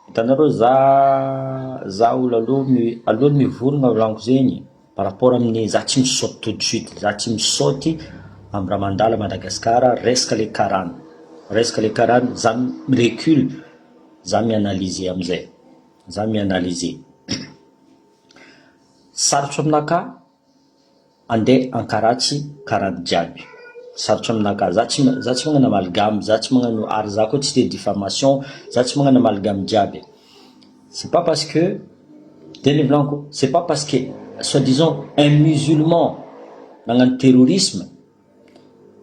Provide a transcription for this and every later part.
Hitanareo za za olo aloha mi aloha ny mivorogna volaniko zegny par rapport amin'ny za tsy misaoty tout de suite za tsy misaoty amin'ny raha mandalo à Madagascar resaka le karana resaka le karana za mi recule za mi analyser amizay za mi analyser sarotro aminakahy Andeha ankaratsy karany jiaby. Sarotra aminah ka. Za tsy za tsy magnano amalgame, za tsy magnano ary za koa tsy te diffamation, za tsy magnano amalgame jiaby e. C'est pas parce que, de ny volanko, c'est pas parce que soit disant un musulman nagnano terrorisme,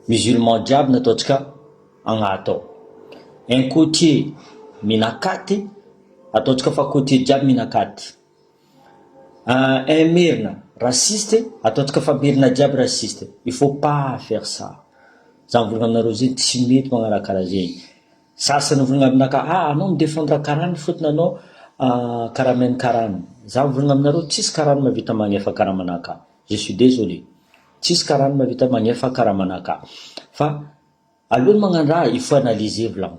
musulman jiaby no ataontsika agnaty ao. Un cotier mihina katy, ataontsika fa cotier jiaby mihina katy. Eeh merina, raciste ataontsika fa merina jiaby raciste, il faut pas faire ça, za mivolagna aminareo zegny tsy mety magnaraha karaha zegny, sasany mivolagna aminakahy ah anao mi defendre karana fotony anao karaha main karana, za mivolagna aminareo tsisy karana mahavita magnefa karaha manakahy, je suis désolé, tsisy karana mahavita magnefa karaha manakahy, fa alohan'ny magnano raha il faut analyser volagny.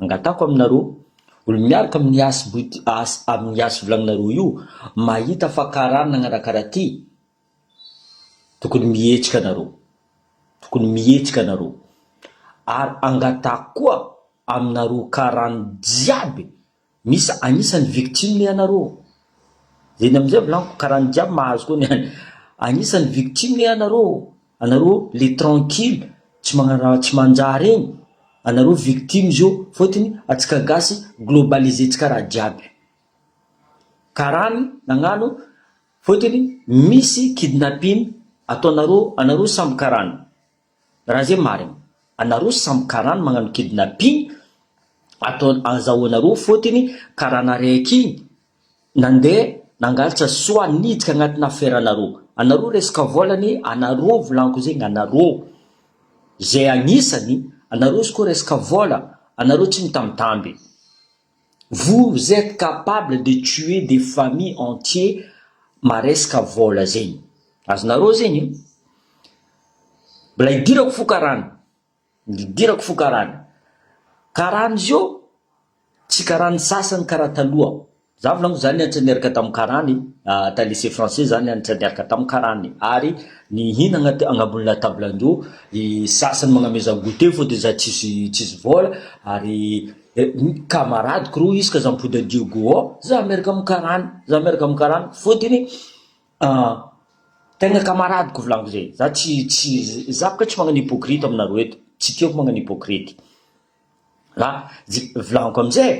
Angatahako aminareo, olo miaraka amin'ny as but as amin'ny as volagninareo io, mahita fa karana nagnarakara ty, tokony mihetsika nareo, tokony mihetsika nareo, ary angatahako koa aminareo karany jiaby, Misy agnisany victime ianareo. Zeny amizay volaniko karaha ny jiaby mahazo koa ny any. Agnisany victime ianareo. Anareo le tranquille tsy magnaraha tsy manjary egny. Anareo victime izy io fôtony atsika gasy globaliser tsika raha jiaby. Karaha ny nagnano fôtony misy kidnapping ataonareo anareo samby karany. Raha zay marina. Anareo samy karana magnano kidnapping atao azahoanareo fotiny karana raiky igny nandeha nangaltsa soa nidika agnatina affaire nareo. Anareo resaka volany anareo volanko zegny anareo zay agnisany anareo izy koa resaka vola anareo tsy mitamitamby. Vous etes capable de tuer des familles entiers maresaka vôla zegny azonareo zegny e! Mbola hidirako fo karana, hidirako fo karana, karana izy io tsy karana sasany karaha taloha, za volaniko za nianatra niaraka tamin'ny karana e! ta lycée français za nianatra niaraka tamin'ny karana e! ary nihinagna teo agnabon'ny latablin-dreo, ny sasany magnamezan-goûter fôtony za tsisy tsisy vôla ary Eh, camarade ko rô isaka za mipody an'i Diego ao, za miaraka amin'ny karana, za miaraka amin'ny karana, fôtony ah, tegna camarade ko volaniko zay, za tsy tsy za bôka tsy magnano hypocrite aminareo eto, tsy tiako magnano hypocrite, la je volaniko am'zay,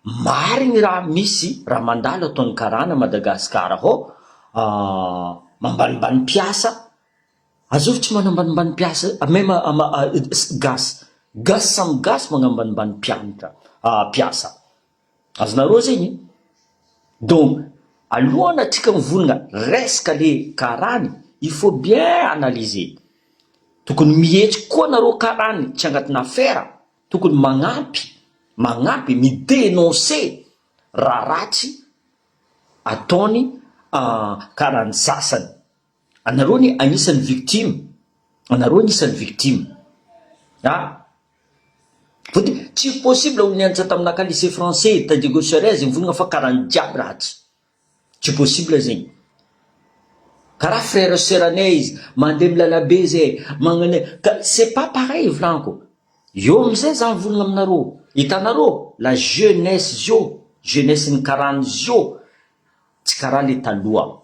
marigny raha misy raha mandalo ataon'ny karana Madagasikara hô ah, mambanimbany mpiasa. Azovy tsy manambanimbany mpiasa même gasy gasy samy gasy magnambanimbany mpianatra mpiasa azonareo zegny donc alohany atsika mivonogna resaka le karany il faut bien analyser tokony mihetsika koa nareo karany tsy agnatina afera tokony magnampy magnampy mi denoncer raha ratsy ataony karany sasany. Anareo anie anisany victime, anareo anisany victime a! Vao dia tsy possible ho nianatra taminaka lycée français ta Diego Suarez iny vonona fa karany jiaby ratsy, tsy possible zegny. Karaha frère sœur anay izy, mandeha am lalabe zay, magnanay, ka c'est pas pareil volanko, eo amizay za mivonona aminareo, hitanareo la jeunesse zio, jeunesse ny karany zio, tsy karaha le taloha,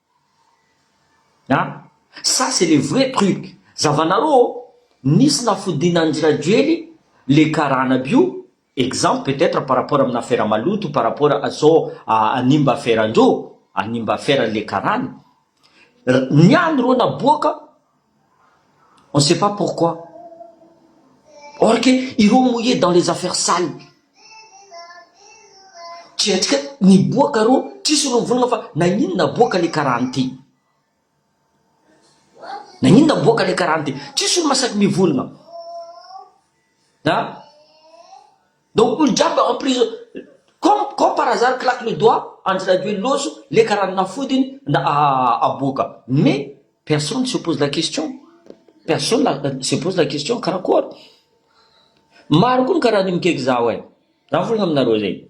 A, ça c'est le vrai truc, zavanarô ô, nisy nafodiana an-dry Rajoely le karana bio, exemple peut etre par rapport amina afera maloto par rapport à zao hanimba aferan-dro, hanimba aferan le karana, ny any rô naboaka, On sait pas pourquoi. Or que ireo mouillé dans les affaires sales. Tsy haintsika ny boaka rô, trisy rô mivolagna fa naninona boaka le karaha an'ity. Naninona boaka le karaha an'ity. Trisy olo masaky mivolagna. An? Donc olo jiaby en prison comme comme par hasard claque le doigt Andry Rajoelina ozo leka ranona fody iny na aboaka mais personne se pose la question personne se pose la question karakory maro koa ny karaha an'io mikaiky zaho ay raha volana aminareo zay.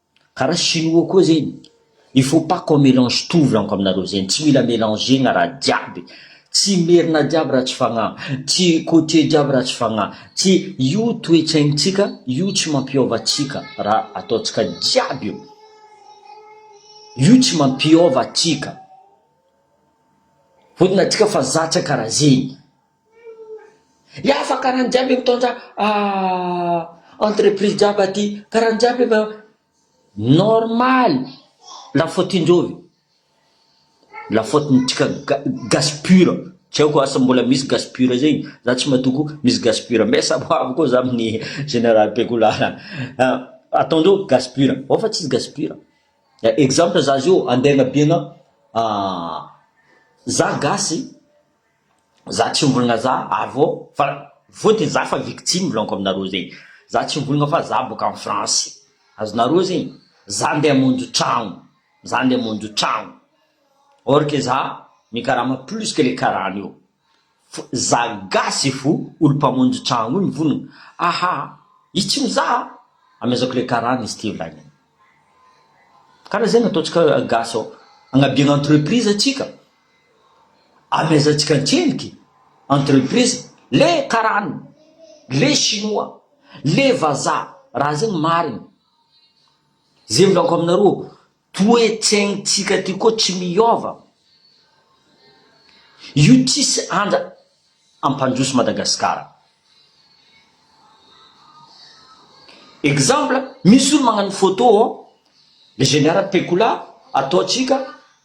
Karaha chinois koa zegny, il faut pas qu'on mélange tout volaniko aminareo zegny, tsy mila mélanger-gna raha jiaby, tsy merina jiaby raha tsy fagnahy, tsy côtier jiaby raha tsy fagnahy, tsy io toe-tsaignintsika io tsy mampiôva antsika raha ataontsika jiaby io, io tsy mampiôva antsika, fôtony antsika fa zatra karaha zegny. Iafa karany jiaby e mitondra entreprise jiaby aty karany jiaby e fa normal la faute indreo ve la faute ny tsika gasy pure tsy aiko asa mbola misy gasy pure zay za tsy matoky misy gasy pure mbe samy ho avy koa za amin'ny general bekolala ataondreo gasy pure ao fa tsisy gasy pure exemple za zao andeha anabiana za gasy Za tsy mbolina za ary vao fa vao de za fa victime volaniko aminareo zegny za tsy mbolina fa za boka any France azonareo zegny za ndeha hamonjy tragno za ndeha hamonjy tragno or que za mikarama plus que le karana io fo za gasy fo olo mpamonjy tragno io mivonogno aha izy tsy mizaha amezako le karana izy ty volagniny kara zegny ataontsika gasy ao agnabiagna entreprise atsika. Amezantsika an-tseliky, entreprise, le karana, le shinoa, le vazaha, raha zay no marina. Zay volako aminareo, toe-tsaintsika ty koa tsy miova. Io tsisy anja ampandroso Madagasikara. Exemple, misy olo magnano photo, le général Pecola, ataontsika.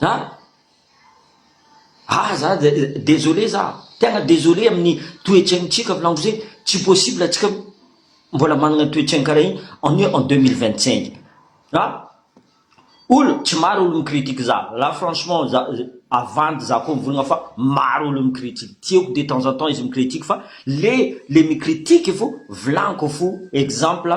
An? Ah za désolé za, tena désolé amin'ny toe-tsaintsika filanitra izay, tsy possible antsika mbola manana toe-tsaina karaha iny, on est en deux mille vingt cinq an! Olo tsy maro olo mi-critique za, là franchement za avandy za koa mivolagna fa maro olo mi-critique, tiako de temps en temps izy mi-critique fa le le mi-critique fo vilagniko fo exemple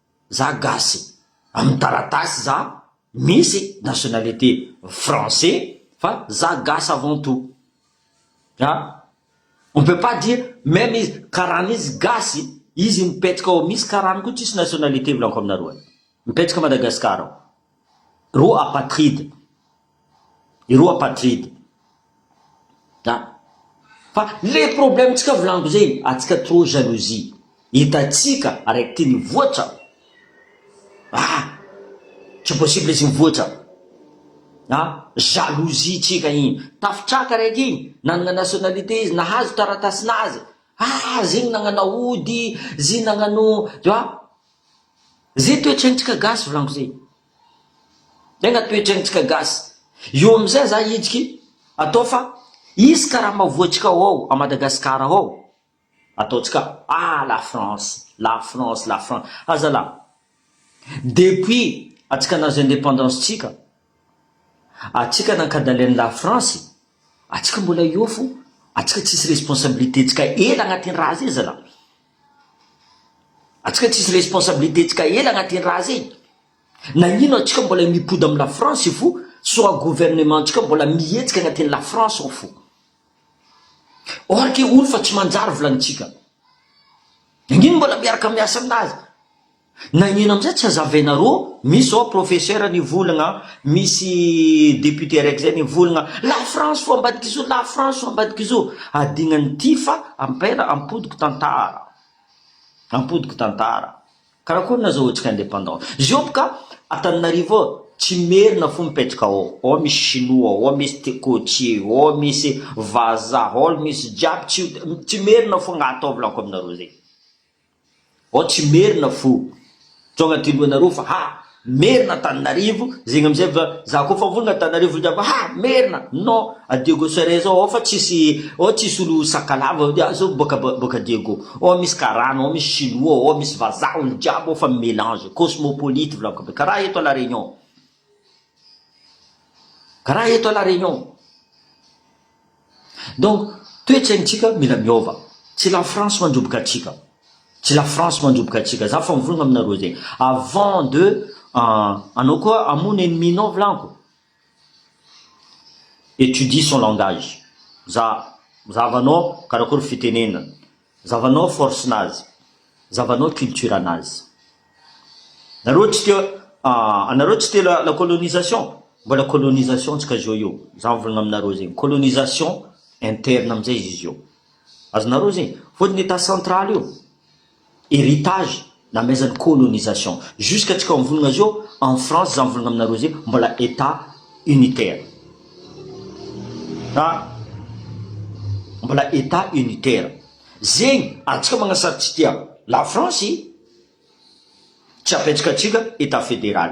Za gasy amin'ny taratasy za misy nationalité français fa za gasy avant tout a! On peut pas dire même izy karana izy gasy izy mipetraka ao misy karana koa tsisy nationalité volako aminareo any mipetraka Madagascar ao reo apatride Ireo apatride. An. Fa le problème tsika volagno zay atsika trop jalousie. Hitatsika araiky ty nivoatra. Ah. Tsy possible izy nivoatra. A. Jalousie tsika igny. Tafitraka araiky igny nanagna nationalité izy nahazo taratasy nazy. Ah zegny nagnana ody, zy nagnano. Zay toetren-tsika gasy volagno zay. Enga toetra ntsika gasy io amizay za hitsiky atao fa hisy karama voatsika ao a Madagascar ao ataontsika ah la France la France la France ah zalah depuis atsika nahazo independance tsika atsika nankadalin la France atsika mbola eo fo atsika tsisy responsabilité tsika ela agnatin'ny raha zay zalah. Antsika tsisy responsabilité tsika hely agnaty iny raha zay, nagnino antsika mbola mipody am la France fo soa gouvernement tsika mbola mihetsika agnaty la France ao fo, or ke olo fa tsy manjary volantsika, nagnino mbola miaraka miasa aminazy. Nagnino amizay tsy hazavaina rô, misy zao professeur nivolagna, misy député araiky zay nivolagna, la France fô ambadik'izao, la France fô ambadik'izao, adignany ty fa ampela ampodiky tantara, ampodiky tantara, karakory nazahoantsika indépendance, zio boka Antananarivo ao tsy merina fô mipetraka ao, ao misy chinois, ao misy thé côtier, ao misy vazaha, ao misy jiaby, tsy merina fô nga atao volako aminareo zay. Vao tsy merina fo Tonga aty lohanareo fa ha merina Antananarivo zegny amizay va za koa fa vonogna Antananarivo ndray va ha merina non a Diego Sure zao ao fa tsisy ao tsisy olo sakalava ah zao boka boka Diego ao misy karana ao misy chinois ao misy vazaha olo jiaby ao fa melange cosmopolite volako be karaha eto a la Réunion Raha eto à la Réunion. Donc toe-tsaintsika mila miova. Tsy la France mandroboka antsika. Tsy la France mandroboka antsika. Za efa mivolagna aminareo zegny. Avant de anao koa hamono ennemi nao vilanko. Etudie son langage. Za, zahavanao karakory fitenenana. Zavanao force nazy, zavanao culture nazy. Nareo tsy te ah, anareo tsy te la, la colonisation? Mbola colonisation tsy kajo io, za mivolagna aminareo zegny, colonisation interne amizay izy io, azonareo zegny, fôtony etat central io heritage La maison de colonisation jusque atsika mivolagna zao en France za mivolagna aminareo zay mbola etat unitaire ah mbola etat unitaire zegny atsika magnasary tsy tia la France tsy apetraka atsika etat federal.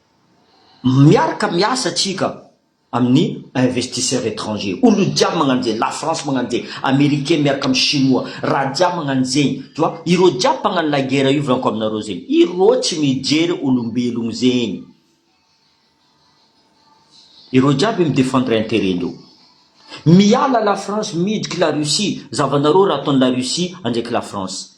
Miaraka miasa tsika amin'ny investisseur etranger, olo jiaby magnano zegny, la France magnano zegny, americain miaraka amin'ny chinois, raha jiaby magnano zegny, tu vois, ireo jiaby mpagnano la guerre io volanko aminareo zegny, ireo tsy mijery olombelogno zegny, ireo jiaby mi defendre interet ndreo, miala la France miditry la Russie, zavanareo raha ataon'i la Russie andraiky la France.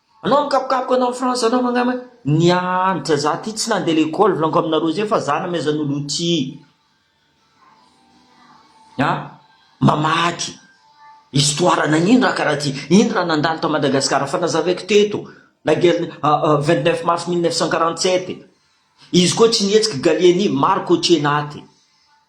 Anao mikapokapoka anao France anao angamba nianatra za aty tsy nande l'école volaniko aminareo zay fa za namezan'olo outil a mamaky histoire nagnino raha karaha ty ino raha nandalo tao Madagascar fa nazavaiko teto la guerre vingt neuf mars mille neuf cent quarante sept izy koa tsy nihetsiky Gallieni maro cotier naty.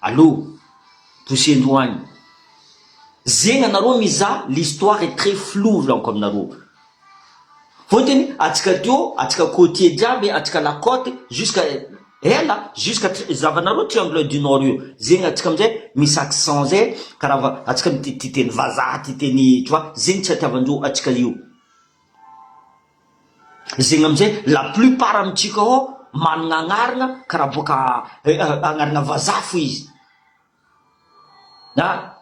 Allo! Bosendro any. Zegny anareo mizaha l'histoire est très flou volaniko aminareo. Vao te ny atsika teo atsika côtier jiaby atsika la côte jusqu'à ela jusqu'à tri zavanareo triangle du nord io zegny atsika amizay misy accent zay karaha va atsika mitia tia teny vazaha tia teny tu vois zegny tsy atiavandreo atsika io. Zegny amizay la plupart amintsika ao managna agnarana karaha boaka agnarana vazaha fo izy ah!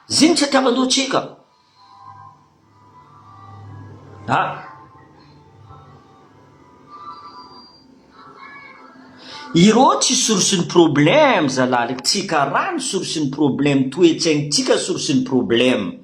zegny tsy atiavan-doha tsika ah! Irô tsy source ny problème zalahy, tsika raha ny source ny problème, toetsaignintsika source ny problème.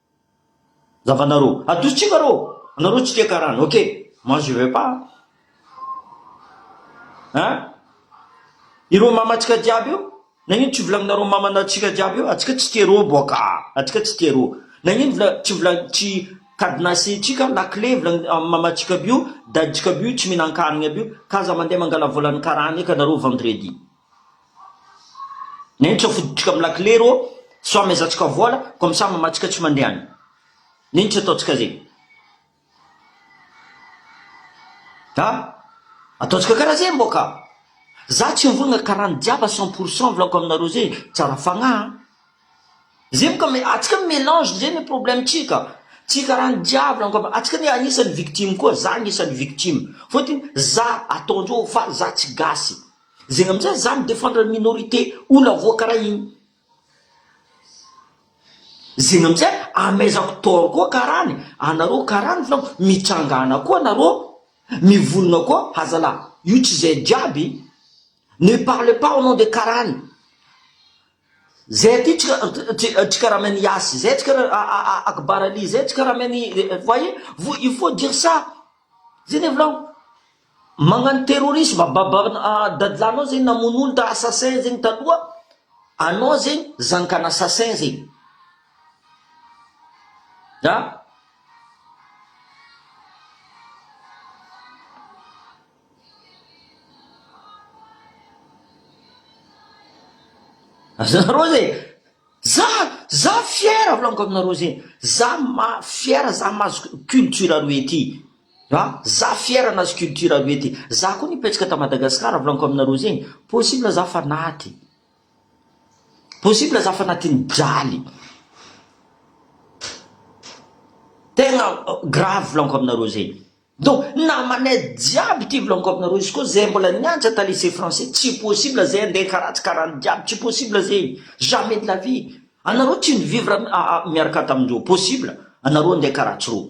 Zavanareo. Adosontsika reo. Anareo tsy tia karana. Ok. Moi je veux pas. Hein? Ireo mamantsika jiaby io? Nagnino tsy volagninareo mamantsika jiaby io? Atsika tsy tia reo boaka. Atsika tsy tia reo. Nagnino vola tsy volagny tsy cadenassentsika la clé volagny mamantsika aby io, dadintsika aby io tsy mihinan-kanigny aby io ka aza mandeha mangala volan'ny karana eka nareo vendredi. Neny tsy afodotsika am lakile rô sao amezantsika vôla comme ça mamatsika tsy mandeha any neny tsy ataontsika zegny a ataontsika kara zegny mbô ka za tsy mivolagna kara ny jiaby à cent pour cent volako aminareo zey tsara fagnahy an zey mo ka me atsika mo melange zey ny problème tsika tsy kara ny jiaby volako am atsika anie agnisany victime koa za agnisany victime fôtony za ataondreo fa za tsy gasy. Zegny amizay izaho mi defendre ny minorité olona voakaraha igny. Zegny amizay ameizako tort koa karany, anareo karany filamm mitsangana koa anareo, mivonona koa hazalahy, io tsy zay jiaby, ne parlez pas au nom de karany, zay aty tsy ka tsy karaha main yasy zay, tsy karaha akbar ali zay, tsy karaha main voyez, il faut dire ça, zay ne volagno. Magnano terrorisme baban'ny dadilahinao zegny namono olo ta assassin zegny taloha anao zegny zanakan assassin zegny a. Azonareo zegny za za fier volaniko aminareo zegny za ma fier za mahazo culture roe ty A, za fier anazy culture roe ty, za koa nipetraka ta Madagascar volaniko aminareo zegny, possible za fa naty, possible za fa natiny jaly, tegna grave volaniko aminareo zegny, donc namanay jiaby ty volaniko aminareo, izy koa zay mbola niantra ta lycée français tsy possible zay ande karatsy karany jiaby tsy possible zegny, jamais de la vie, anareo tsy ni vivre miaraka tamindreo possible anareo ande karatsy reo,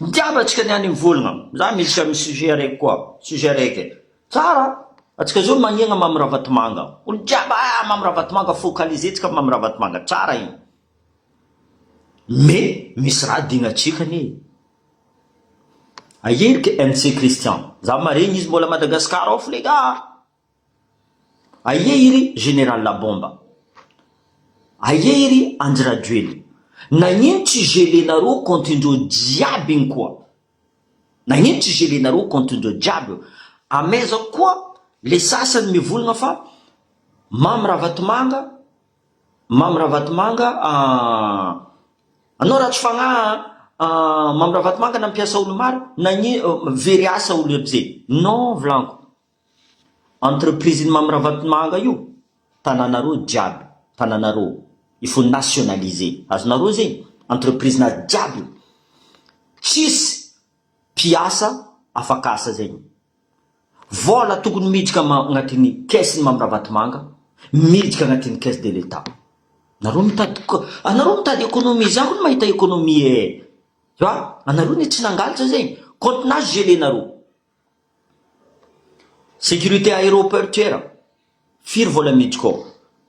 Mitiava tsika ny any mivolagna, za misy ka misy sujet araiky koa, sujet araiky, tsara atsika zao magnegna Mamy Ravatomanga, olo jiaby ah Mamy Ravatomanga focaliser tsika Mamy Ravatomanga, tsara igny, mais misy raha adinontsika anie, aia ery MC Christian, za maregny izy mbola Madagascar ao f'leky ah. Aie iry général Labomba? Aie iry Andry Rajoelina? Nagnino tsy gelenareo compte ndreo jiaby igny koa? Nagnino tsy gelenareo compte ndreo jiaby eo? Amehezako koa le sasany mivolagna fa Mamy Ravatomanga, Mamy Ravatomanga ahh anao ratsy fagnahy an! Mamy Ravatomanga nampiasa olo maro, nagnino, very asa olo aby zay? Non volagniko. Entreprise ny Mamy Ravatomanga io tananareo jiaby tananareo il faut nationalise azonareo zegny entreprise na jiaby io tsisy mpiasa afaka asa zegny vola tokony miditra agnatiny caisse ny Mamy Ravatomanga miditra agnatiny caisse de l'etat nareo mitady anareo mitady economie za koa mahita economie eh fa anareo ne tsy nangalatra zegny compte nazy gelé nareo. Sécurité aéroportuaire, firy vola midiko ao?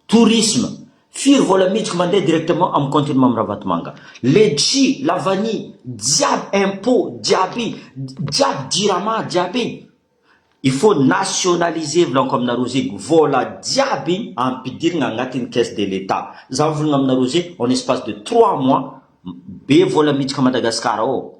Tourisme, firy vola midiko mandeha directement amin'ny compte-n'i Mamy Ravatomanga? Letchi, la vanille, jiaby impôt, jiaby, jiaby jirama, jiaby. Il faut nationaliser volaniko aminareo zegny, vola jiaby ampidirigna agnatin'ny caisse de l'Etat. Za mivolagna aminareo zegny en espace de trois mois, be vola midiko à Madagascar ao.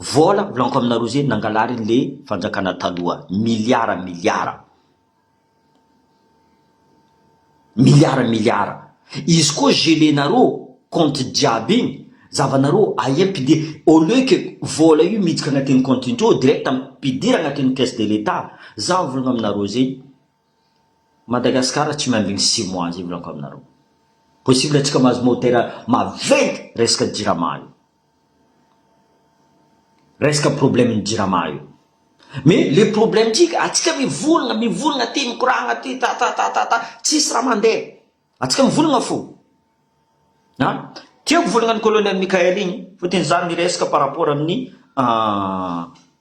Vola volaniko aminareo zay nangalariny le fanjakana taloha milliards milliards milliards milliards izy koa gelenareo compte jiaby iny zavanareo aia ampidir au lieu que vola io miditra agnatin'ny compte indreo direct ampidir agnatin'ny caisse de l'etat za mivolagna aminareo zay Madagascar tsy miambigny six mois zay volaniko aminareo possible antsika mahazo motera maventy resaka jirama io. Resaka problème ny jirama io. Mais le problème tsika atsika mivolagna mivolagna ty mikoragna aty ta ta ta ta ta tsisy raha mandeha. Atsika mivolagna fo. A! Tiako volagna ny colonel Mickaël igny fotony za miresaka par rapport amin'ny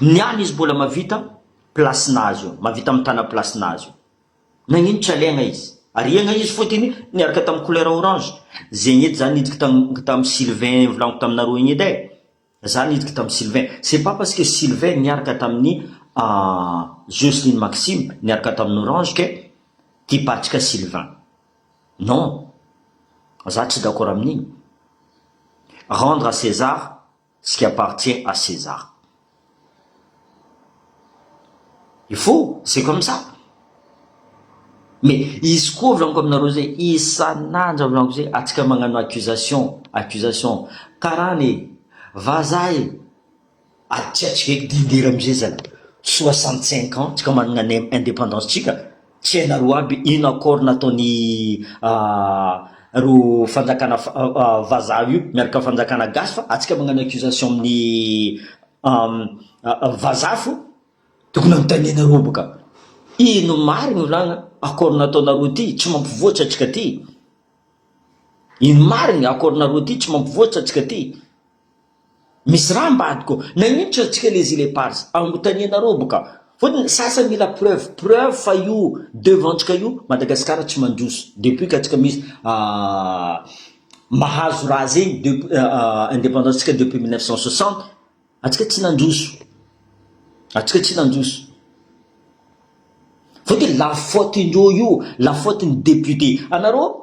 Ny any izy mbola mavita place nazy eo, mavita mitana place nazy eo. Nagnino tsy aleagna izy? Ariagna izy fot igny niaraka tam couleur orange. Zegny edy za niditry tam tam Sylvain volagniko taminareo igny edy ai. Za niditry tam Sylvain, c'est pas parce que Sylvain niaraka tamin'ny Jocelyne Maxime niaraka tamin'ny orange ke ty patrika Sylvain. Non, za tsy d'accord amin'igny. Rendre à César ce qui appartient à César. Il faut, c'est comme ça. Mais izy koa volaniko aminareo zay, isan'andro volaniko zay, atsika magnano accusation, accusation, karana e, vazaha e, aty atsika eky dingera amizay zany, soixante cinq ans, tsika managna ny indépendance tsika, Tsy hainareo aby ino accord nataony reo fanjakana vazaha io miaraka fanjakana gasy fa atsika magnano accusation aminy vazaha fo tokony anontanianareo boka ino marigny olagna accord nataonareo ty tsy mampivoatsa atsika ty ino marigny accord nareo ty tsy mampivoatsa atsika ty. Misy raha ambadiko, naninitra antsika les il epars, anotanianareo boka, fotony ny sasany mila preuve, preuve fa io devant ntsika io Madagascar tsy mandroso, depuis ka tsika misy mahazo raha zegny depuis independance tsika depuis mille neuf cent soixante, atsika tsy nandroso, atsika tsy nandroso, fotony la faute indreo io, la faute ny député, anareo.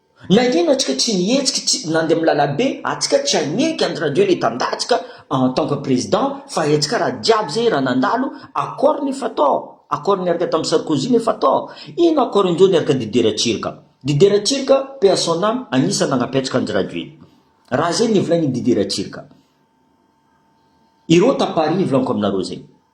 Nagnino atsika tsy nihetsiky tsy nandeha am lalabe atsika tsy haneky and radio le tandatsika en tant que président fa hetsika raha jiaby zay raha nandalo accord nefa to accord niaraka tam Sarkozy nefa to ino accord indreo niaraka Didier Ratsiraka Didier Ratsiraka paix à son ame agnisa nagnampy atsika and radio raha zay nevolaigny Didier Ratsiraka ireo ta Paris volagnoka aminareo zay.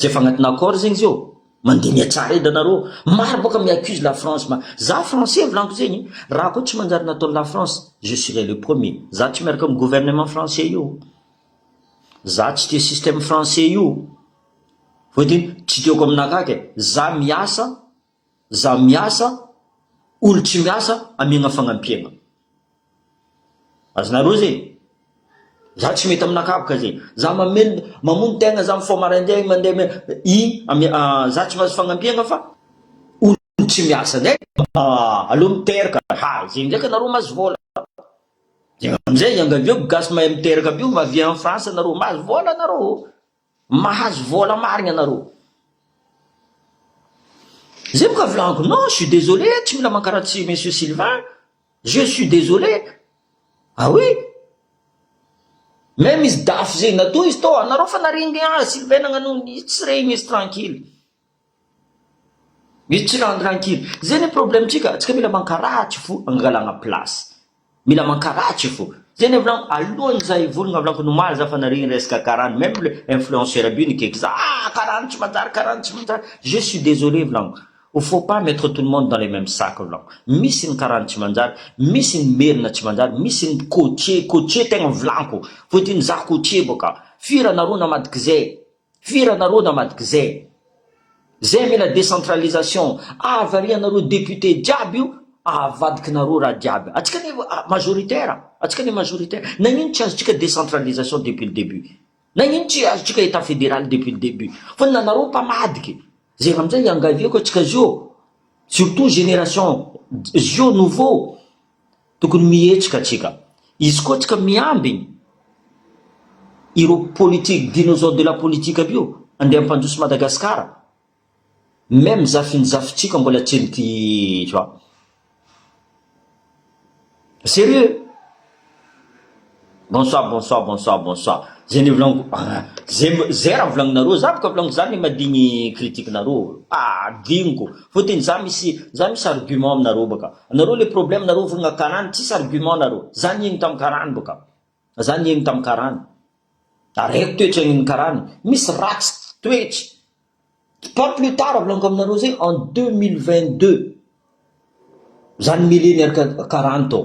Rehefa agnatina accord zegny izy ô, mandeha mihatsara edy anareo, maro bôka mi accuse la France, ma- za français volaniko zegny, raha koa tsy manjary nataon'i la France, je serai le premier, za tsy miaraka amin'ny gouvernement français io, za tsy tia système français io, voahedim, tsy tiako aminakahy kay, za miasa. Za miasa, olo tsy miasa amiagna fagnampiagna. Azonareo zegny? Za tsy mety aminakahy boka zegny. Za mameno, mamono tegna za mifoha maraindegny mandeha me, i ami, za tsy mahazo fagnampiagna fa olo tsy miasa ndray aleo miteraka, ha zegny ndraiky anareo mahazo vôla, zegny amizay iangaviako gasy mahay miteraka aby io mba avia en France anareo mahazo vôla anareo ô. Mahazo vola marigna nareo. Zay boka volagniko non suis désolé tsy mila mankaratsy monsieur Sylvain je suis désolé ah oui même izy dafy zegny natoa izy tao anareo fa naregny ah Sylvain nagnanogny izy tsy regny izy tranquille. Misy tsy rendre ankizy. Zay ny problème tsika, tsika mila mankaratsy fo angalagna place, mila mankaratsy fo, zay ny volagno alohany za hivolagna volagno nomaly za fa nare resaka karana meme le influenceur aby io nikaiky za ah karana tsy manjary karana tsy manjary, je suis désolé volagno il faut pas mettre tout le monde dans le meme sac volagno, misy ny karana tsy manjary, misy ny merina tsy manjary, misy ny cotier, cotier tegna volagno, fôtiny za cotier bôka, firy anareo namadika zay. Fira nareo namadikzay. Zay mila decentralisation avarianareo député jiaby io avadikinareo raha jiaby. Atsika anie majoritaire, atsika anie majoritaire. Nagnino tsy azotsika decentralisation depuis le début? Nagnino tsy azotsika état fédéral depuis le début? Fa na nareo mpamadiky zay raha amzay iangaviako atsika zio surtout génération zio nouveau. Tokony mihetsika tsika. Izy koa tsika miambiny ireo politique dinosaure de la politique aby io andeha ampandroso Madagascar. Meme zafiny zafintsika mbola tsy eny ty zao. Serieux. Bonsoir bonsoir bonsoir bonsoir zay nivolaniko zay zay raha volagninareo za boka volaniko za le madio ny critique nareo ah adinoko fotony za misy za misy argument aminareo boka anareo le problème nareo volagna karany tsisy argument nareo za niaigny tam karany boka za niaigny tam karany ary haiko toetry aigny karany misy ratsy toetry pas plus tard volaniko aminareo zay en deux mille vingt deux za nomele niaraka karany tao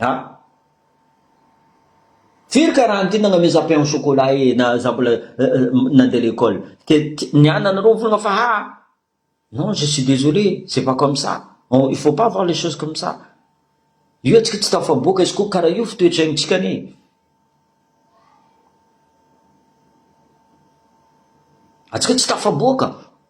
Ah! Firy ka raha nity nagnameza pain au chocolat ee na za mbola nandeha l'école ke ny anana nareo mivolagna fa ha non je suis désolé c'est pas comme ça on il faut pas voir les choses comme ça io atsika tsy tafaboaka izy ko kara io fo toetsaintsika anie atsika tsy tafaboaka.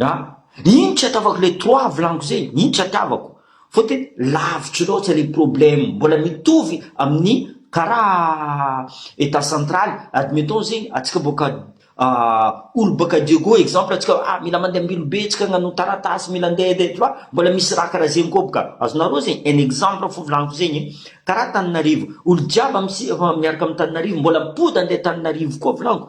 A, iny tsy hataovako le trois avlango zay, iny tsy hataovako, fotony lavitry loatra le problème, mbola mitovy amin'ny karaha etat central, admettons zegny atsika boaka a olo boaka Diego exemple atsika hoe a mila mandeha am-bilobe tsika agnano taratasy, mila andeha andeha tu vois, mbola misy raha karaha zegny koa boka, azonareo zegny, un exemple fo volaniko zegny e, karaha Antananarivo, olo jiaby am-si miaraka am-Tananarivo mbola mipody andeha Antananarivo koa volaniko.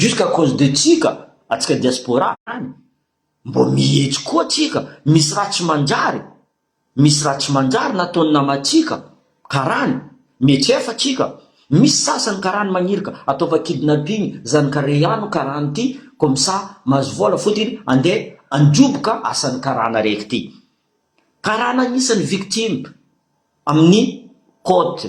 Juste à cause de tsika atsika diaspora any mbo mihetsy koa tsika misy raha tsy manjary misy raha tsy manjary nataony namatsika karany mietsefa tsika misy sasany karany magnirika ataova kidnapping zany karey ano karany ty comme ça mahazo vola fotiny ande androboka asany karana reky ty karana agnisany victime aminy cote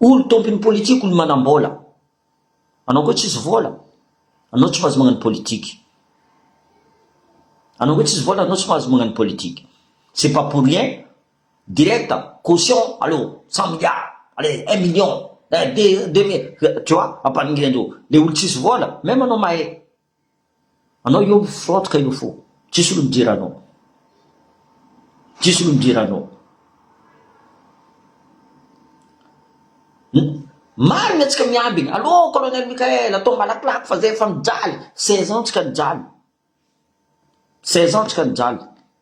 Olo tompiny politique olo manambola. Anao koa tsisy vola, anao tsy mahazo magnano politique. Anao koa tsisy vola anao tsy mahazo magnano politique. C'est pas pour rien, direct, caution, allô, cent milliards, allez, un million, deux mille, tu vois, ampaningilin-dreo. Le olo tsisy vola, même anao mahay, Anao io mifaotka io fo tsisy olo mijery anao tsisy olo mijery anao marigny atsika miambigny allo colonel Mickaël atao malakilaky fa zay efa mijaly seize ans tsika nijaly seize ans tsika nijaly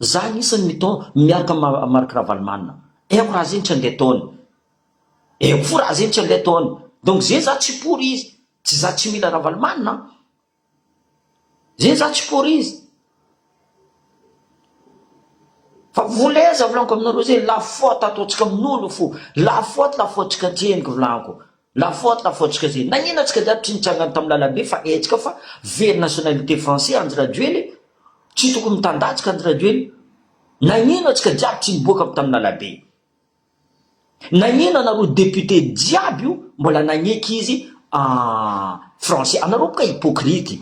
Za anisany miton miaraka am Marc Ravalomanana eko raha zegny tsy andeha ataony eko fo raha zegny tsy andeha ataony donc zegny za tsy pour izy tsy za tsy mila Ravalomanana an zegny za tsy pour izy fa voleza volagno ko aminareo zegny la faute ataontsika aminolo fo la faute la faute tsika tsy henoko volagno ko. La faute la faute tsika zay nagnino atsika jiaby tsy nitsangana tam lalambe fa hetsika fa very nationalité français andry rajoely tsy tokony mitandatsika andry rajoely nagnino atsika jiaby tsy niboaka tam lalabe nagnino anareo député jiaby io mbola nagneky izy ah français anareo boka hypocrite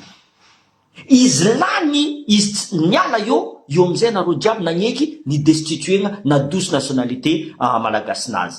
izy lany izy tsy niala eo eo amizay anareo jiaby nagneky ni destituena na douce nationalité ah malagasy nazy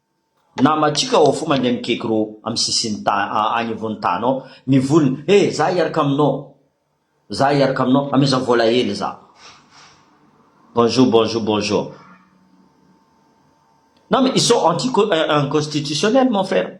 Namantsika ao fo mandeha mikeky ro am sisin tany any ivon tany ao ny volony he za hiaraka aminao za hiaraka aminao ameza vola hely za bonjour bonjour bonjour non mais ils sont anti constitutionnel mon frère.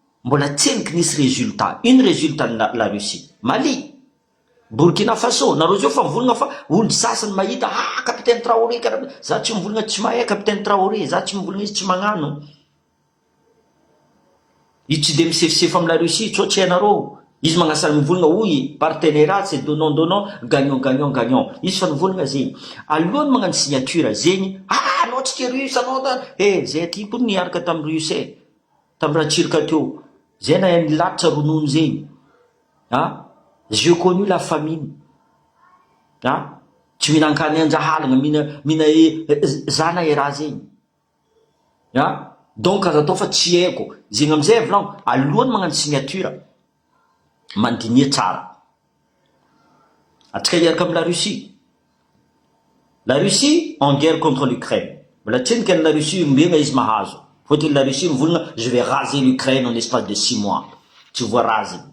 Mbola tseniky nisy resultat. Ino resultat ny la Russie? Mali? Burkina Faso? Nareo zao efa mivolgna fa olo sasny mahita ha capitaine Traoré kara za tsy mivolgna tsy mahay capitaine Traoré za tsy mivolgna izy tsy magnano izy tsy de misefosefo am la Russie co tsy hainareo izy magnasar mivolgna oui partenera c'est donnant donnant gagnant gagnant gagnant izy fa nivolgna zegny alohany magnano signature zegny ah anao tsy tia russe anao eh zay aty ko niaraka tam russe eh Tam Ratsiraka teo. Zay nahay nilatsa ronono zegny a! J'ai connu la famine a! Tsy mihinan-kany an-jahalagna, mihina mihina e zana e raha zegny a! Donc aza atao fa tsy haiko zegny amizay avelao alohan'ny magnano signature Mandiniha tsara. Antsika hiaraka amin'i La Russie. La Russie en guerre contre l'Ukraine. Mbola tsy henoko an'i La Russie ombena izy mahazo. Fotony La Russie mivonona je vais raser l'Ukraine en espace de six mois. Tsy voaraziny.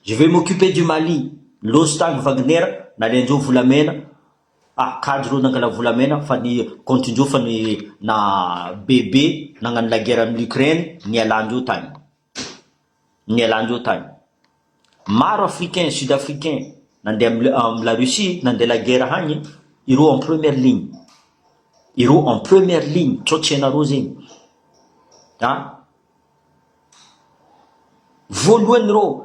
Je vais m'occuper du Mali. Loso tany Wagner, nalendreo volamena. Ah, kajy reo nangala volamena fa ny compte-ndreo fa ny na bebe nagnano la guerre amin'i l'Ukraine, nialandreo tany. nialàndreo tany. Maro africains, sud africains nandeha am la Russie nandeha la guerre hagny ireo en première ligne. Ireo en première ligne sao tsy hainareo zegny. An! Voalohany ireo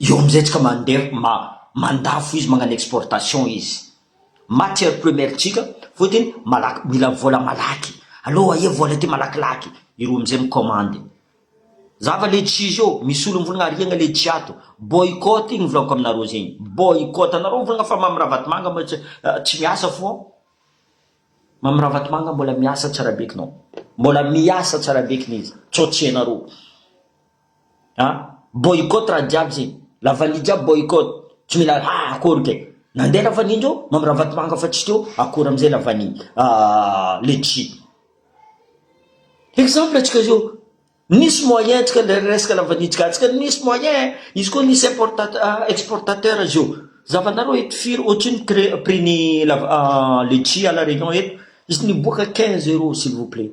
Eo amin'izay tsika mandeha ma mandafo izy magnano exportation izy matière première tsika fotiny malaky mila vola malaky allo aia vola ty malakilaky ireo amin'izay mi commande zava le tsy izy eo misy olo mivolagna ariagna le tsy ato boycott igny volako aminareo zegny boycott anareo mivolagna fa mamy ravatomanga ma tsy tsy miasa fô mamy ravatomanga mbola miasa tsara be k'nao mbola miasa tsara be k'izy tsô tsy hainareo. a! Boycott raha jiaby zegny, la vanille jiaby boycott, tsy mila a! akory kay, nandeha la vanille ndreo mamy ravatomanga fa tsy teo akory amizay la vanille, letchi, exemple atsika zao, nisy moyen tsika le resaka la vanille tsika atsika nisy moyen, izy koa nisy importat exportateur izy io, zavanareo eto firy otrino cré- prix-ny la letchi à la reunion eto, izy niboaka quinze euros s'il vous plait.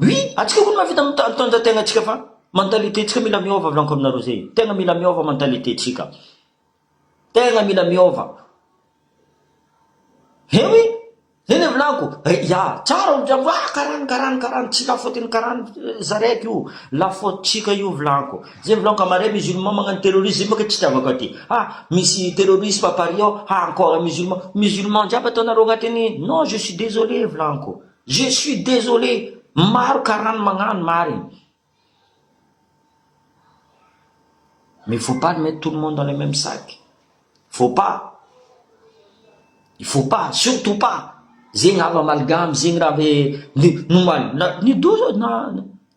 Oui, antsika koa mahavita mitandrina tegna antsika fa mentalité ntsika mila miova volaniko aminareo zay, tegna mila miova mentalité ntsika, tegna mila miova, eh oui, zay le volaniko, ya tsara olo jiaby hoe ah karany karany karany, tsy la faute-n'ny karany zareko io, la faute-ntsika io volaniko. Zay vlog marais musulman magnano terrorisme zay bôka tsy itiavako aty ah misy terrorisme à Paris ao ah encore musulman musulman jiaby ataonareo agnatiny non je suis désolé vlaniko je suis désolé maro karany magnano marigny mais faut pas mettre tout le monde dans le même sac faut pas il faut pas surtout pas zegny hava amalgame zegny raha ave ny nomaly na ny doza na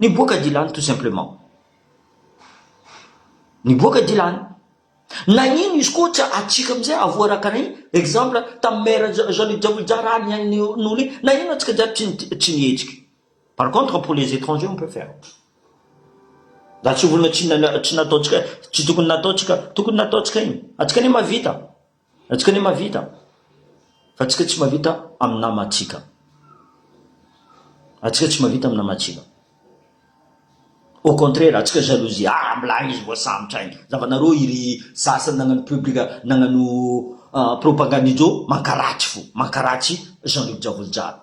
Niboaka Dylan tout simplement. Niboaka Dylan. Nagnino izy koa tsy atsika amizay avoaraka ny exemple tam maire Jean-Luc Javoija raha ny ainy nony nagnino atsika jiaby tsy tsy nihetsiky. Par contre pour les étrangers on peut faire. Raha tsy olona tsy nana tsy nataontsika tsy tokony nataontsika tokony nataontsika igny. Atsika anie mavita. Antsika anie mahavita fa antsika tsy mahavita amin'ny namantsika. Antsika tsy mahavita amin'ny namantsika. Au contraire, antsika jalousie. Ah, mbola agny izy voasambotra agny. Zavanareo iry sasany nagnano publica, nagnano ah, propagande ijo, mankaratsy fo, mankaratsy Jean Luc Javolojalo.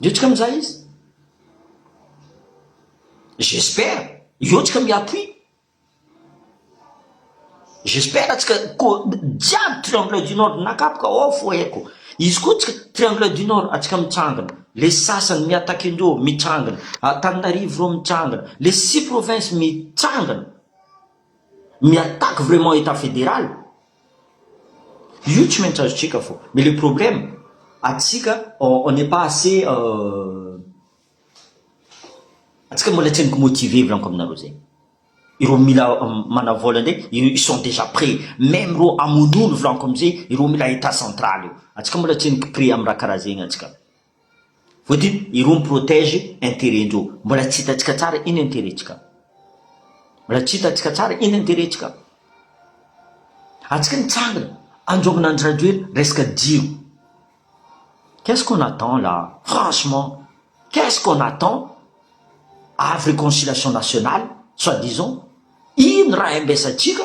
Miotrika mizaha izy. J'espère hiotrika mi-appui. J'espère tsika ko jiaby triangle du nord nakapoka ao foheko. Izy koa tsika triangle du nord atsika mitsangana. Le sasany mi-attaquer ndreo mitsangana. Antananarivo reo mitsangana. Le six provinces mitsangana. Mi attaque vraiment etat federal? Io tsy maintsy azo check fô. Mais le problème, atsika on n'est pas assez atsika mbola tsy haingo motiver vy laniko aminareo zay. Ireo mila manavola ndray ils sont déjà près. Même reo amonono vy laniko amzay ireo mila etat central io. Atsika mbola tsy haingo près am raha karaha zegny atsika. Vous dites ireo mi protège intérêt ndreo. Mbola tsy hitantsika tsara iny intérêt ntsika. Mbola tsy hitantsika tsara iny intérêt ntsika. Antsika nitsangana anjovona Andry Rajoelina resaka jiro. Qu'est-ce qu'on attend là? Franchement, qu'est-ce qu'on attend? Avy réconciliation nationale, soit disant, ino raha ambesantsika?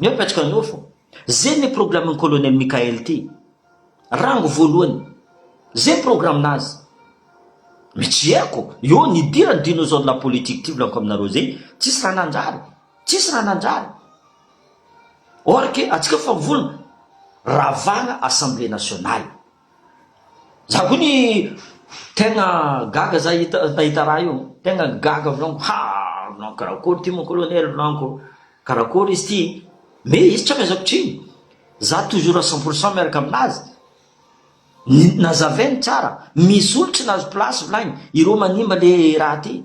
Ny hoe patrika nofo, zay ny problème ny colonel Mickaël ity, rango voalohany, zay programme nazy, mitsiheriko eo ny hidirany dinosaure de la politique ity volaniko aminareo zay, tsisy raha nanjary, tsisy raha nanjary, or que antsika efa mivolona, ravagna assemblée nationale. Za koa ny tegna gaga za nahita raha io, tegna gaga volaniko ha volaniko karakory ity mon colonel volaniko, karakory izy ity, me izy tsy amezako tsiny, za toujours à cent pour cent miaraka aminazy, nazavainy tsara, misy olo tsy nahazo place volagny, ireo manimba le raha ty.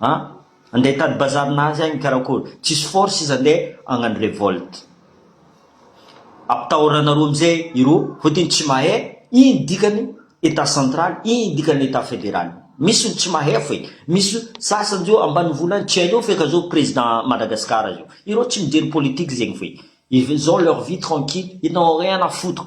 A! Andeha hitady bazary nazy agny karakory? Tsisy force izy andeha hagnano revolte. Ampitahoranareo amizay iroa fotony tsy mahay ino dikany etat central ino dikany etat federal. Misy olo tsy mahay foy, misy sasany zao ambanivolo agny tsy hainao feky zao president Madagascar zao. Ireo tsy mijery politique zegny foy. Ils ont leur vie tranquille, ils n'ont rien à foutre.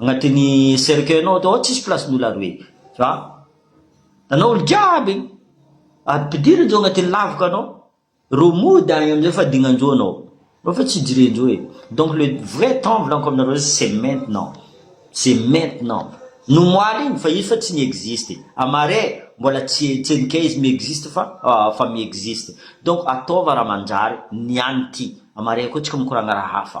Agnatiny cercueil nao atao ao tsisy place ny olo ary hoe za anao olo jiaby igny ampidiry anzao agnatiny lavaka anao ro mody agny amizay fa dignanjo anao anao fa tsy jirenjo e donc le vrai temps volaniko aminareo zay c'est maintenant c'est maintenant nomoaly igny fa izy fa tsy mi-existe à marais mbola tsy tsy enikay izy mi-existe fa fa mi-existe donc ataova raha manjary ny any ty à marais koa tsika mikoragna raha hafa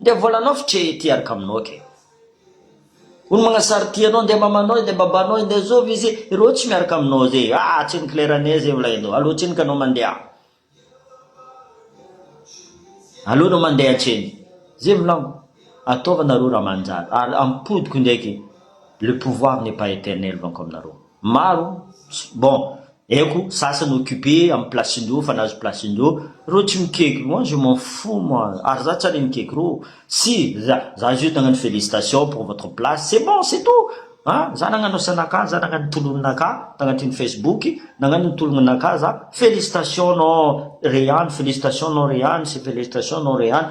Ndeha volanao f'trea ity hiaraka aminao ake Ony magnasary ity anao ndeha mamanao izy ndeha babanao izy ndeha zovy izy Ireo tsy miaraka aminao ze ah tsy mi-clair anie ze volainao Aleo tsiny ka anao mandeha Aleo anao mandeha tsiny Ze volanko Ataova nareo raha manjary Ary ampodiko ndraiky Le pouvoir n'est pas éternel Volanko aminareo Maro, bon, haiko, sasany occupé amin'ny place-ndreo, efa nahazo place-ndreo, reo tsy mikaiky, moi je m'en fous moi, ary za tsy ary mikaiky reo, si, za, za juste nagnano félicitation pour votre place, c'est bon, c'est tout, an, za nagnano asanakah, za nagnano ny tolonakah, tagnatin'ny facebook, nagnano ny tolonakah za, félicitation non Rehan, félicitation non Rehan, c'est félicitation non Rehan.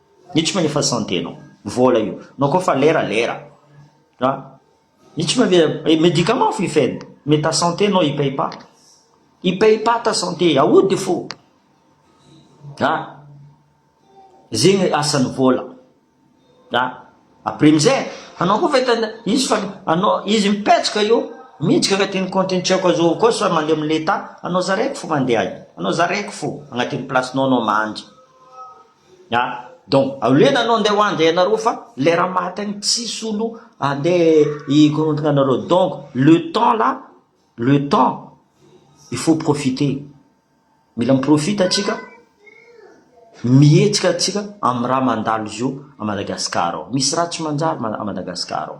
Mitsy moa efa santé nao. Vola io. Nao koa fa lera lera. Ra. Mitsy moa ve eh, médicament fo ifeno. Mais ta santé nao i paye pas. I paye pas ta santé. Aody fo. Ra. Zegny asan'ny vola. Ra. Après amizay, anao koa fa tena izy fa anao izy mipetsoka io, miditra agnatin'ny compte-n'ny tsy haiko azo koa sa mandeha amin'ny l'etat, anao zareko fo mandeha any. Anao zareko fo agnatin'ny place-nao anao mandry. Ah donc aolena anao ndeha hoany dia ianareo fa lera maty any tsisy olo andeha hikorontana anareo donc le temps là le temps il faut profiter mila miprofita atsika mihetsika atsika amin'ny raha mandalo zio à Madagascar ao misy raha tsy manjary à Madagascar ao.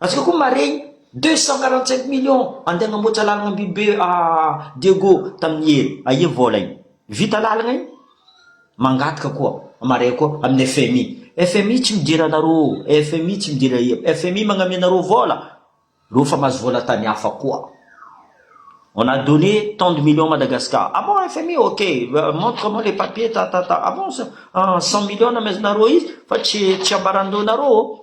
Antsika koa maregny deux cent quarante cinq millions andeha agnamboatra lalagna Ambihibe à Diego tamin'ny hery, aia vôla io? Vita lalagna io? Mangataka koa maregny koa amin'ny FMI, FMI tsy midira anarô, FMI tsy midira eo, FMI magnamia anarô vôla, rô fa mahazo vôla tany hafa koa. On a donné tant de millions à Madagascar, ah bon FMI ok, montre moi les papiers ta ta ta, ah bon cent millions nameznarô izy fa tsy tsy ambaran-doha narô ô.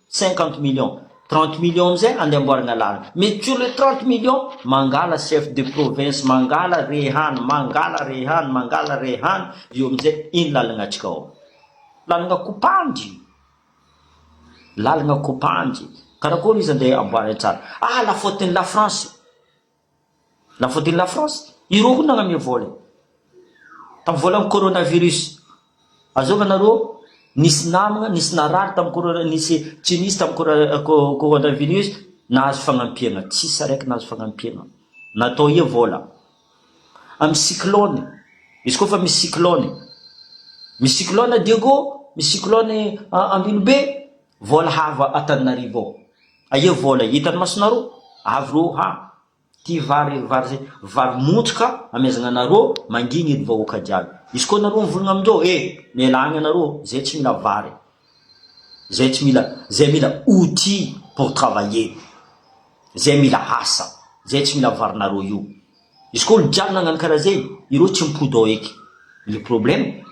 Cinquante millions, trente millions amizay ande amboarina lalana, mais sur le trente millions mangala chef de province mangala re hany, mangala re hany, mangala re hany, io amizay iny lalagna atsika ao, lalagna kopandy, lalagna kopandy, karakory izy ande amboarina tsara, ah la faute ny la France. La faute de la France, ireo koa nanome vola e! Tamin'ny volan'ny coronavirus, azonga nareo nisy namana, nisy narary tamin'ny corona, nisy tsy nisy tamin'ny coronavirus nahazo fagnampiana, tsisy araiky nahazo fagnampiana, natao ihe vola. Amin'ny cyclone, izy koa fa misy cyclone, misy cyclone Diego, misy cyclone Ambinobe, Vôla hava Antananarivo ao. Aia vôla hitan'ny masonarô? Avy rô ha! Ty vary vary zay vary montsoka amezagna anarô mangigny edy vahoaka jiaby. Izy kô narô mivolagna aminjô eh! Mialagna anarô zay tsy mila vary. Zay tsy mila zay mila outil pour travailler. Zay mila asa. Zay tsy mila varinarô io. Izy kô olo jiaby nagnano kara zegny irô tsy mipody ao eky. Le problème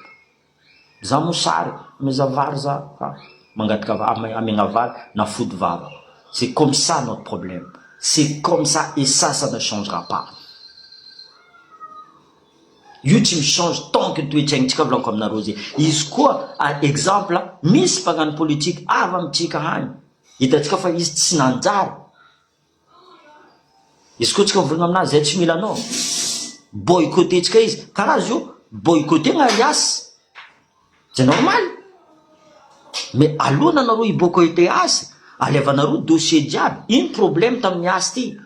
Za mosary meza vary za fa mangataka vary amiagna vary na fody vava c'est comme ça notre problème c'est comme ça et ça ça ne changera pas io tsy mi change tant que toetsaintsika volako aminareo zay izy koa exemple misy mpagnano politique avy amitsika agny hitatsika fa izy tsy nanjary Izy koa tsika miverina amin'azy izay tsy mila anao, mi-boycotter-tsika izy. Karaha izy io, mi-boycotter ny alias. C'est normal. Mais alohan' anareo hi-boycotter azy, alevanareo dossier jiaby, ino problème tamin'ny azy ity?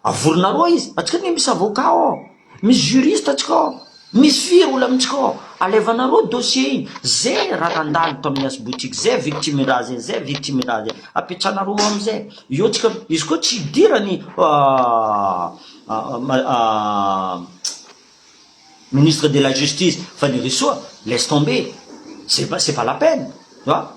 Avorinareo izy, antsika anie misy avocat ao. Misy juriste antsika ao, misy firy olo amintsika ao, alevanareo dossier iny, ze raha nandalo tamin'ny asboty iny, ze victime raha zay, ze victime raha zay, apetsanareo ao amizay, eo tsika, izy koa tsy hidiran'ny ministre de la justice Fanirisoa, laisse tomber, c'est pas, c'est pas la peine, tu vois.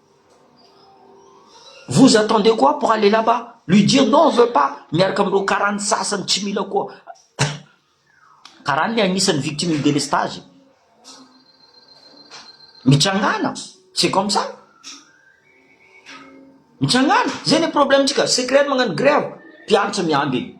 Vous attendez quoi pour aller là bas? Lui dire non on veut pas miaraka amin'ireo karany sasany tsy mila koa karany le anisan'ny victime ny délestage e! Mitrangana c'est comme ça! Mitrangana zay le problème-tsika secret magnano grève mpianatra miamby e!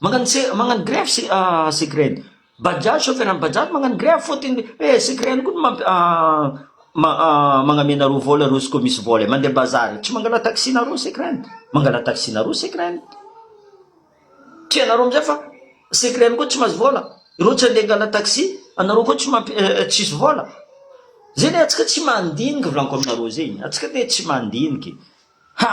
Magnano se magnano grève se secret bajaj chauffeur an'i bajaj magnano grève fôtiny eh secret ihany koa no mampi ma magname nareo vôla reo izy koa misy vôla e mandeha bazary tsy mangala taxi nareo secret mangala taxi nareo secret tianareo amizay fa secret ihany koa tsy mahazo vôla reo tsy andeha angala taxi anareo koa tsy mampi tsisy vôla zay le antsika tsy mandiniky volaniko aminareo zegny antsika le tsy mandiniky ha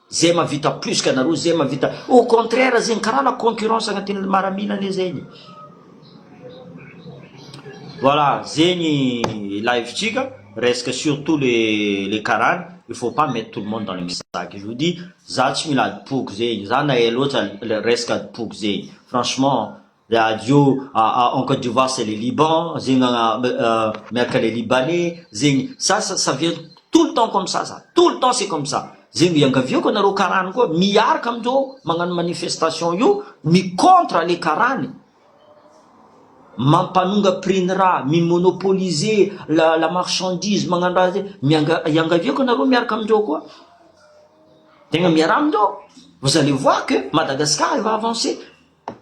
Zay mavita plus ka nareo zay mavita au contraire zegny kara la concurrence agnatinle maramila le zegny voilà zegny live tsika resaka surtout le le karany il faut pas mettre tout le monde dans le message sac je vous dis za tsy mila adipogy zegny za na ela loatra resaka adipogy zegny franchement Radio en Côte d'Ivoire c'est le Liban, zegny miaraka le Libanais, zegny ça ça vient tout le temps comme ça ça, tout le temps c'est comme ça, zegny no iangaviako anareo karany koa miaraka amindreo magnano manifestation io mi contre le karany mampanonga prix ny raha, mi monopoliser la la marchandise magnano raha zegny, mianga iangaviako anareo miaraka amindreo koa, tegna miaraha amindreo, vous allez voir que Madagascar va avancer.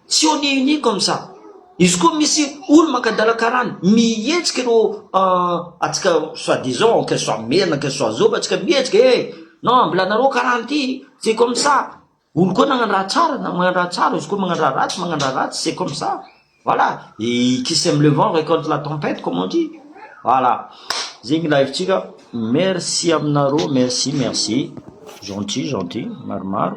Tsy on est unis comme ça. Izy koa misy olo makadala karana, mihetsiky ireo atsika soit disant que soit merina que soit zoba atsika mihetsiky eh non ambilanareo karana ity c'est comme ça, olo koa nagnano raha tsara na magnano raha tsara, izy koa magnano raha ratsy magnano raha ratsy c'est comme ça, voilà et qui sème le vent récolte la tempête comme on dit, voilà zay gn'ilay hevitsika, merci aminareo, merci merci, gentil gentil, maromaro.